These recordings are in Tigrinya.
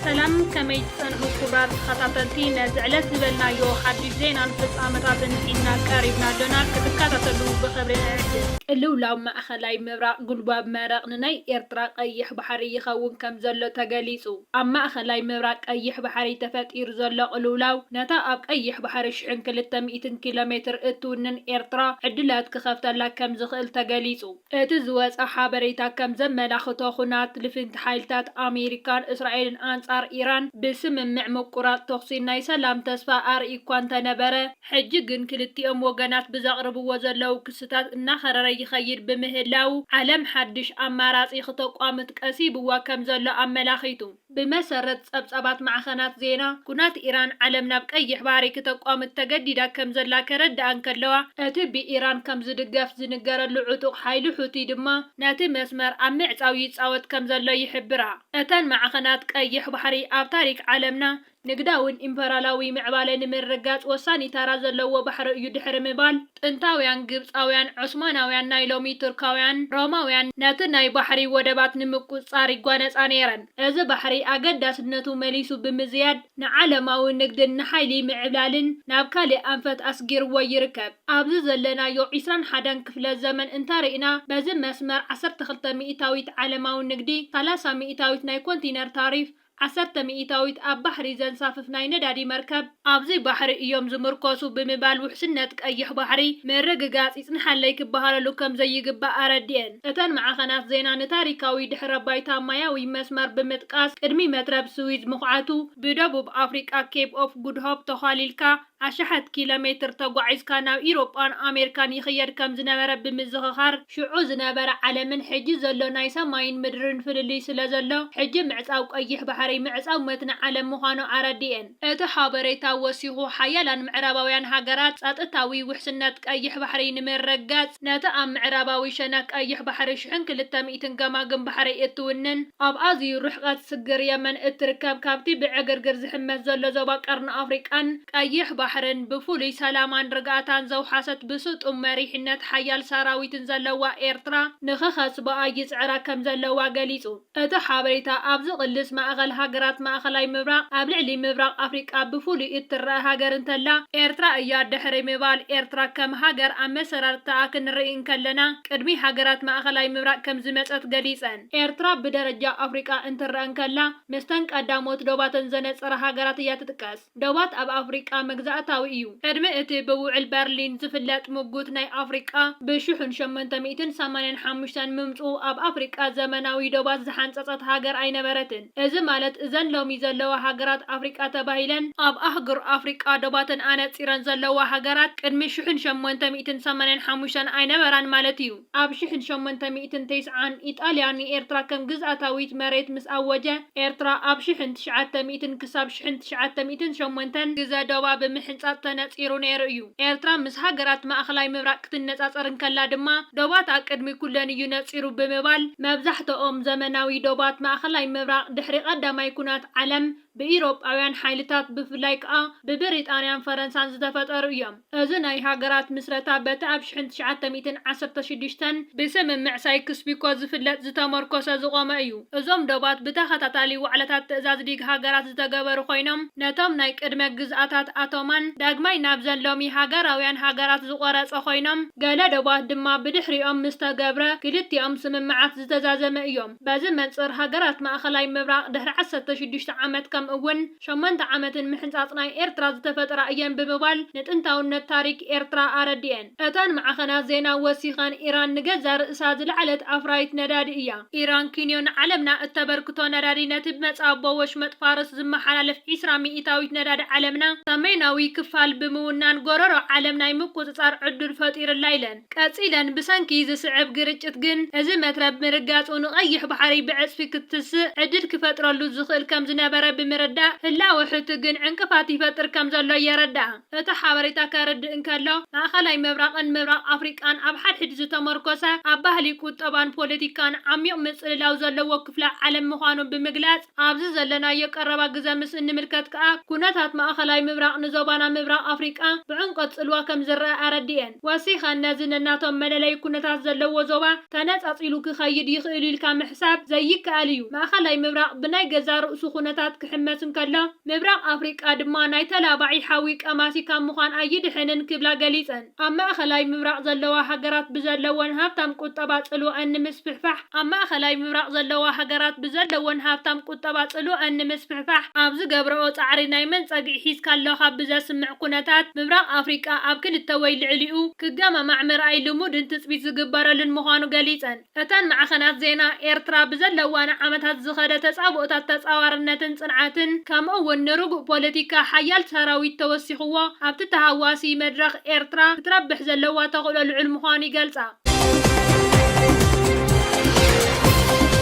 ሰላም ከመይ ትጸንሑ ክቡራት ተኸታተልቲ ነዚ ዕለት ዝበልናዮ ሓድሽ ዜናን ፍጻመታትን ሒዝና ቀሪብና ኣሎና ክትከታተሉ ብኽብሪ ንዕድም። ቅልውላው ማእኸላይ ምብራቕ ጉልባብ መረቕ ንናይ ኤርትራ ቀይሕ ባሕሪ ይኸውን ከምዘሎ ተገሊጹ። ኣብ ማእከላይ ምብራቕ ቀይሕ ባሕሪ ተፈጢሩ ዘሎ ቅልውላው፣ ነታ ኣብ ቀይሕ ባሕሪ ሽሕን ክልተ ሚእትን ኪሎ ሜትር እትውንን ኤርትራ ዕድላት ክኸፍተላ ከም ዝኽእል ተገሊጹ። እቲ ዝወጸ ሓበሬታ ከም ዘመላኽቶ፣ ኵናት ልፍንቲ ሓይልታት ኣሜሪካን እስራኤልን ኣንጻር ኢራን፣ ብስምምዕ ምቍራጽ ተዅሲ ናይ ሰላም ተስፋ ኣርእዩ'ኳ እንተነበረ፣ ሕጂ ግን ክልቲኦም ወገናት ብዘቕርብዎ ዘለዉ ክስታት እናኸረረ ይኸይድ ብምህላዉ፣ ዓለም ሓድሽ ኣማራጺ ክተቋምት ቀሲብዋ ከም ዘሎ ኣመላኺቱ። ብመሰረት ጸብጻባት ማዕኸናት ዜና፣ ኩናት ኢራን ዓለም ናብ ቀይሕ ባሕሪ ክተቋምት ተገዲዳ ከም ዘላ ከረድኣ እንከለዋ፣ እቲ ብኢራን ከም ዝድገፍ ዝንገረሉ ዕጡቕ ሓይሊ ሑቲ ድማ ነቲ መስመር ኣብ ምዕጻው ይጻወት ከም ዘሎ ይሕብራ። እተን ማዕኸናት፣ ቀይሕ ባሕሪ ኣብ ታሪክ ዓለምና ንግዳውን ኢምፐራላዊ ምዕባለ ንምርግጋጽ ወሳኒ ታራ ዘለዎ ባሕሪ እዩ ድሕሪ ምባል፣ ጥንታውያን ግብጻውያን፣ ዖስማናውያን፣ ናይ ሎሚ ቱርካውያን፣ ሮማውያን፣ ነቲ ናይ ባሕሪ ወደባት ንምቁጽጻር ይጓነጻ ነይረን። እዚ ባሕሪ ኣገዳስነቱ መሊሱ ብምዝያድ ንዓለማዊ ንግድን ንሓይሊ ምዕብላልን ናብ ካልእ ኣንፈት ኣስጊርዎ ይርከብ። ኣብዚ ዘለናዮ ዕስራን ሓደን ክፍለ ዘመን እንተሪእና በዚ መስመር ዓሰርተ ክልተ ሚእታዊት ዓለማዊ ንግዲ፣ ሰላሳ ሚእታዊት ናይ ኮንቲነር ታሪፍ፣ ዓሰርተ ሚኢታዊት ኣብ ባሕሪ ዘንሳፍፍ ናይ ነዳዲ መርከብ፣ ኣብዚ ባሕሪ እዮም ዝምርኮሱ ብምባል ውሕስነት ቀይሕ ባሕሪ ምርግጋጽ ይጽንሓለይ ክበሃለሉ ከም ዘይግባእ ኣረዲኤን። እተን ማዕኸናት ዜና ንታሪካዊ ድሕረ ባይታ ማያዊ መስመር ብምጥቃስ ቅድሚ መትረብ ስዊዝ ምኹዓቱ፣ ብደቡብ ኣፍሪቃ ኬፕ ኦፍ ጉድ ሆፕ ተዃሊልካ፣ ኣሽሓት ኪሎ ሜትር ተጓዒዝካ ናብ ኢሮጳን ኣሜርካን ይኽየድ ከም ዝነበረ ብምዝኽኻር፣ ሽዑ ዝነበረ ዓለምን ሕጂ ዘሎ ናይ ሰማይን ምድርን ፍልልይ ስለ ዘሎ፣ ሕጂ ምዕጻው ቀይሕ ባሕሪ ምዕጻው መትኒ ዓለም ምዃኑ ኣረዲኤን። እቲ ሓበሬታ ወሲኹ፣ ሓያላን ምዕራባውያን ሃገራት፣ ጸጥታዊ ውሕስነት ቀይሕ ባሕሪ ንምርግጋጽ፣ ነቲ ኣብ ምዕራባዊ ሸነኽ ቀይሕ ባሕሪ ሽሕን ክልተ ትን ገማግም ባሕሪ እትውንን ኣብ ኣዝዩ ርሕቐት ስግር የመን እትርከብ ካብቲ ብዕግርግር ዝሕመስ ዘሎ ዞባ ቀርኒ ኣፍሪቃን ቀይሕ ባሕርን ብፍሉይ ሰላማን ርግኣታን ዘውሓሰት ብስጡም መሪሕነት ሓያል ሰራዊትን ዘለዋ ኤርትራ ንኽኸስብኣ ይጽዕራ ከምዘለዋ ገሊጹ። እቲ ሓበሬታ ኣብ ዝቕልስ ማእኸል ሃገራት ማእኸላይ ምብራቕ ኣብ ልዕሊ ምብራቕ ኣፍሪቃ ብፍሉይ እትረኣ ሃገር እንተላ ኤርትራ እያ ድሕሪ ምባል ኤርትራ ከም ሃገር ኣመሰራርትታኣ ክንርኢ እንከለና ቅድሚ ሃገራት ማእኸላይ ምብራቕ ከምዝመፀት ገሊፀን። ኤርትራ ብደረጃ ኣፍሪቃ እንትረኣ እንከላ ምስተን ቀዳሞት ዶባተን ዘነፀራ ሃገራት እያ ትጥቀስ። ዶባት ኣብ ኣፍሪቃ መግዛእታዊ እዩ። ቅድሚ እቲ ብውዕል በርሊን ዝፍለጥ ሙጉት ናይ ኣፍሪቃ ብሽሑን ሸሞንተ ሚእትን ሰማንያን ሓሙሽተን ምምፅኡ ኣብ ኣፍሪቃ ዘመናዊ ዶባት ዝሓንፀፀት ሃገር ኣይነበረትን። እዚ ማለት እዘን ሎሚ ዘለዋ ሃገራት ኣፍሪቃ ተባሂለን ኣብ ኣህጉር ኣፍሪቃ ዶባተን ኣነጺረን ዘለዋ ሃገራት ቅድሚ ሽሕን ሸሞንተ ሚእትን ሰማንያን ሓሙሽተን ኣይነበራን ማለት እዩ። ኣብ ሽሕን ሸሞንተ ሚእትን ተስዓን ኢጣልያ ንኤርትራ ከም ግዝኣታዊት መሬት ምስ ኣወጀ ኤርትራ ኣብ ሽሕን ትሽዓተ ሚእትን ክሳብ ሽሕን ትሽዓተ ሚእትን ሸሞንተን ግዘ ዶባ ብምሕንጻጽ ተነጺሩ ነይሩ እዩ። ኤርትራ ምስ ሃገራት ማእከላይ ምብራቕ ክትነጻጸር እንከላ ድማ፣ ዶባትኣ ቅድሚ ኩለን እዩ ነጺሩ ብምባል፣ መብዛሕትኦም ዘመናዊ ዶባት ማእከላይ ምብራቕ ድሕሪ ቀዳማይ ኩናት ዓለም ብኢሮጳውያን ሓይልታት ብፍላይ ከኣ ብብሪጣንያን ፈረንሳን ዝተፈጠሩ እዮም። እዚ ናይ ሃገራት ምስረታ በቲ ኣብ ሽሕን ትሽዓተ ሚእትን ዓሰርተ ሽዱሽተን ብስምምዕ ሳይክስ-ፒኮ ዝፍለጥ ዝተመርኮሰ ዝቖመ እዩ። እዞም ዶባት ብተኸታታሊ ዋዕላታት ትእዛዝ ሊግ ሃገራት ዝተገበሩ ኮይኖም፣ ነቶም ናይ ቅድመ ግዝኣታት ኣቶማን ዳግማይ ናብዘን ሎሚ ሃገራውያን ሃገራት ዝቖረጸ ኮይኖም፣ ገለ ዶባት ድማ ብድሕሪኦም ምስ ተገብረ ክልቲኦም ስምምዓት ዝተዛዘመ እዮም። በዚ መንጽር ሃገራት ማእከላይ ምብራቕ ድሕሪ ዓሰርተ ሽዱሽተ ዓመት ከምኡ'ውን ሸሞንተ ዓመትን ምሕንጻጽ ናይ ኤርትራ ዝተፈጥራ እየን ብምባል ንጥንታውነት ታሪክ ኤርትራ ኣረዲኤን። እተን ማዕኸናት ዜና ወሲኸን፣ ኢራን ንገዛእ ርእሳ ዝለዓለት ኣፍራዪት ነዳዲ እያ። ኢራን ኪንዮ ንዓለምና እተበርክቶ ነዳዲ፣ ነቲ ብመጻቦ ወሽመጥ ፋርስ ዝመሓላለፍ ዕስራ ሚኢታዊት ነዳዲ ዓለምና ሰሜናዊ ክፋል ብምውናን ጎረሮ ዓለም ናይ ምቁጽጻር ዕዱል ፈጢሩላ ኢለን። ቀጺለን፣ ብሰንኪ ዝስዕብ ግርጭት ግን እዚ መትረብ ምርጋጹ ንቀይሕ ባሕሪ ብዕጽፊ ክትስእ ዕድል ክፈጥረሉ ዝኽእል ከም ዝነበረ ብምርዳእ፣ ህላወ ሑቲ ግን ዕንቅፋት ይፈጥር ከም ዘሎ የረድኣ። እቲ ሓበሬታ ከርድእ እንከሎ፣ ማእከላይ ምብራቕን ምብራቕ ኣፍሪቃን ኣብ ሓድሕድ ዝተመርኮሰ፣ ኣብ ባህሊ፣ ቁጠባን ፖለቲካን ዓሚዩቕ ምጽልላው ዘለዎ ክፍለ ዓለም ምዃኑ ብምግላጽ፣ ኣብዚ ዘለናዮ ቀረባ ግዘ ምስ እንምልከት ከኣ ኩነታት ማእከላይ ምብራቕ ንዞባና ምብራቕ ኣፍሪቃ ብዕምቆት ጽልዋ ከም ዝረኣ ኣረዲኤን። ወሲኸን ነዚ ነናቶም መለለዪ ኩነታት ዘለዎ ዞባ ተነጻጺሉ ክኸይድ ይኽእል'ዩ ኢልካ ምሕሳብ ዘይከኣል እዩ። ማእከላይ ምብራቕ ብናይ ገዛእ ርእሱ ኩነታት ክሕመስ እንከሎ፣ ምብራቕ ኣፍሪቃ ድማ ናይ ተላባዒ ሓዊ ቀማሲ ካብ ምዃን ኣይድሕንን ክብላ ገሊጸን። ኣብ ማእኸላይ ምብራቕ ዘለዋ ሃገራት ብዘለወን ሃብታም ቁጠባ ጽልወኣን ንምስፍሕፋሕ ኣብ ማእኸላይ ምብራቕ ዘለዋ ሃገራት ብዘለወን ሃብታም ቁጠባ ጽልወኣን ንምስፍሕፋሕ ኣብ ዝገብረኦ ጻዕሪ ናይ መን ጸግዒ ሒዝካ ኣለኻ ብዘስምዕ ኩነታት ምብራቕ ኣፍሪቃ ኣብ ክልተ ወይ ልዕሊኡ ክገማማዕ ምርኣይ ልሙድን ትጽቢት ዝግበረሉን ምዃኑ ገሊጸን። እተን ማዕኸናት ዜና፣ ኤርትራ ብዘለዋ ንዓመታት ዝኸደ ተጻብኦታት ተጻዋርነትን ጽንዓትን፣ ከምኡ'ውን ንርጉእ ፖለቲካ፣ ሓያል ሰራዊት ተወሲኹዎ፣ ኣብቲ ተሃዋሲ መድረኽ ኤርትራ ክትረብሕ ዘለዋ ተኽእሎ ልዑል ምዃኑ ይገልጻ።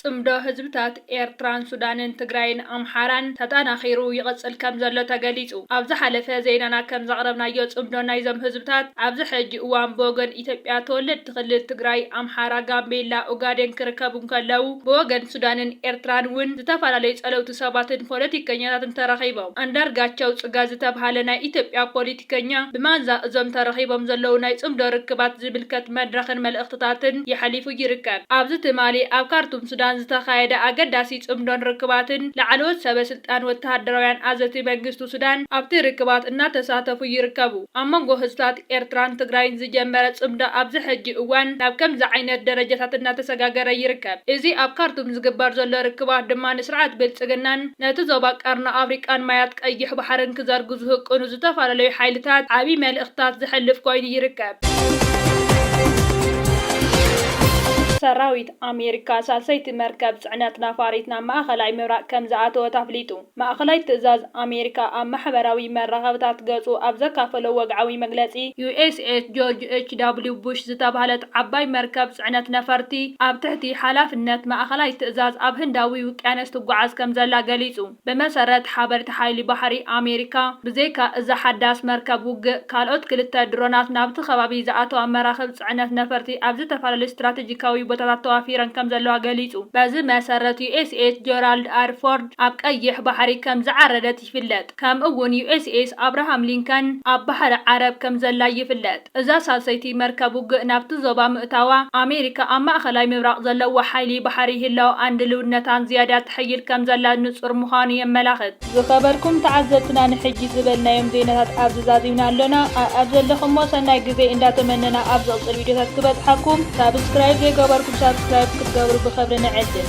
ጽምዶ ህዝብታት ኤርትራን ሱዳንን ትግራይን ኣምሓራን ተጠናኺሩ ይቕጽል ከምዘሎ ተገሊጹ። ኣብ ዝሓለፈ ዜናና ከም ዘቕረብናዮ ጽምዶ ናይዞም ህዝብታት ኣብዚ ሕጂ እዋን ብወገን ኢትዮጵያ ተወለድቲ ክልል ትግራይ፣ ኣምሓራ፣ ጋምቤላ፣ ኡጋዴን ክርከቡ እንከለዉ ብወገን ሱዳንን ኤርትራን እውን ዝተፈላለዩ ጸለውቲ ሰባትን ፖለቲከኛታትን ተረኺቦም። ኣንዳርጋቸው ጽጋ ዝተብሃለ ናይ ኢትዮጵያ ፖሊቲከኛ ብማንዛ እዞም ተረኺቦም ዘለዉ ናይ ጽምዶ ርክባት ዝምልከት መድረኽን መልእኽትታትን የሕሊፉ ይርከብ። ኣብዚ ትማሊ ኣብ ካርቱም ሱዳን ዝተኻየደ ኣገዳሲ ጽምዶን ርክባትን ላዕለዎት ሰበ ስልጣን ወተሃደራውያን ኣዘቲ መንግስቲ ሱዳን ኣብቲ ርክባት እናተሳተፉ ይርከቡ። ኣብ መንጎ ህዝብታት ኤርትራን ትግራይን ዝጀመረ ጽምዶ ኣብዚ ሕጂ እዋን ናብ ከምዚ ዓይነት ደረጃታት እናተሰጋገረ ይርከብ። እዚ ኣብ ካርቱም ዝግበር ዘሎ ርክባት ድማ ንስርዓት ብልጽግናን ነቲ ዞባ ቀርኒ ኣፍሪቃን ማያት ቀይሕ ባሕርን ክዘርጉ ዝህቅኑ ዝተፈላለዩ ሓይልታት ዓቢ መልእኽትታት ዘሕልፍ ኮይኑ ይርከብ። ሰራዊት ኣሜሪካ ሳልሰይቲ መርከብ ጽዕነት ነፋሪት ናብ ማእከላይ ምብራቕ ከም ዝኣተወት ኣፍሊጡ። ማእከላይ ትእዛዝ ኣሜሪካ ኣብ ማሕበራዊ መራኸብታት ገጹ ኣብ ዘካፈሎ ወግዓዊ መግለጺ፣ ዩኤስኤስ ጆርጅ ኤች ዳብሊው ቡሽ ዝተባህለት ዓባይ መርከብ ጽዕነት ነፈርቲ ኣብ ትሕቲ ሓላፍነት ማእከላይ ትእዛዝ ኣብ ህንዳዊ ውቅያኖስ ትጓዓዝ ከም ዘላ ገሊጹ። ብመሰረት ሓበርቲ ሓይሊ ባሕሪ ኣሜሪካ፣ ብዘይካ እዛ ሓዳስ መርከብ ውግእ፣ ካልኦት ክልተ ድሮናት ናብቲ ከባቢ ዝኣተዋ መራኽብ ጽዕነት ነፈርቲ ኣብ ዝተፈላለዩ ስትራተጂካዊ ቦታታት ተዋፊረን ከምዘለዋ ገሊጹ። በዚ መሰረት፣ ዩኤስኤስ ጀራልድ ኣር ፎርድ ኣብ ቀይሕ ባሕሪ ከም ዝዓረደት ይፍለጥ፣ ከምኡ'ውን ዩኤስኤስ ኣብርሃም ሊንከን ኣብ ባሕሪ ዓረብ ከምዘላ ይፍለጥ። እዛ ሳልሰይቲ መርከብ ውግእ ናብቲ ዞባ ምእታዋ፣ ኣሜሪካ ኣብ ማእከላይ ምብራቕ ዘለዋ ሓይሊ ባሕሪ ህላወኣን ድልውነታን ዝያዳ ተሐይል ከም ዘላ ንጹር ምዃኑ የመላኽት። ዝኸበርኩም ተዓዘብትና ንሕጂ ዝበልናዮም ዜናታት ኣብዚ ዛዚምና ኣሎና። ኣኣብ ዘለኹሞ ሰናይ ግዜ እንዳ ተመነና ኣብ ዝቕጽል ቪድዮታት ክበጽሓኩም ሳብስክራይብ ዘይገበርኩም ሳብስክራይብ ክትገብሩ ብኸብሪ ንዕድም።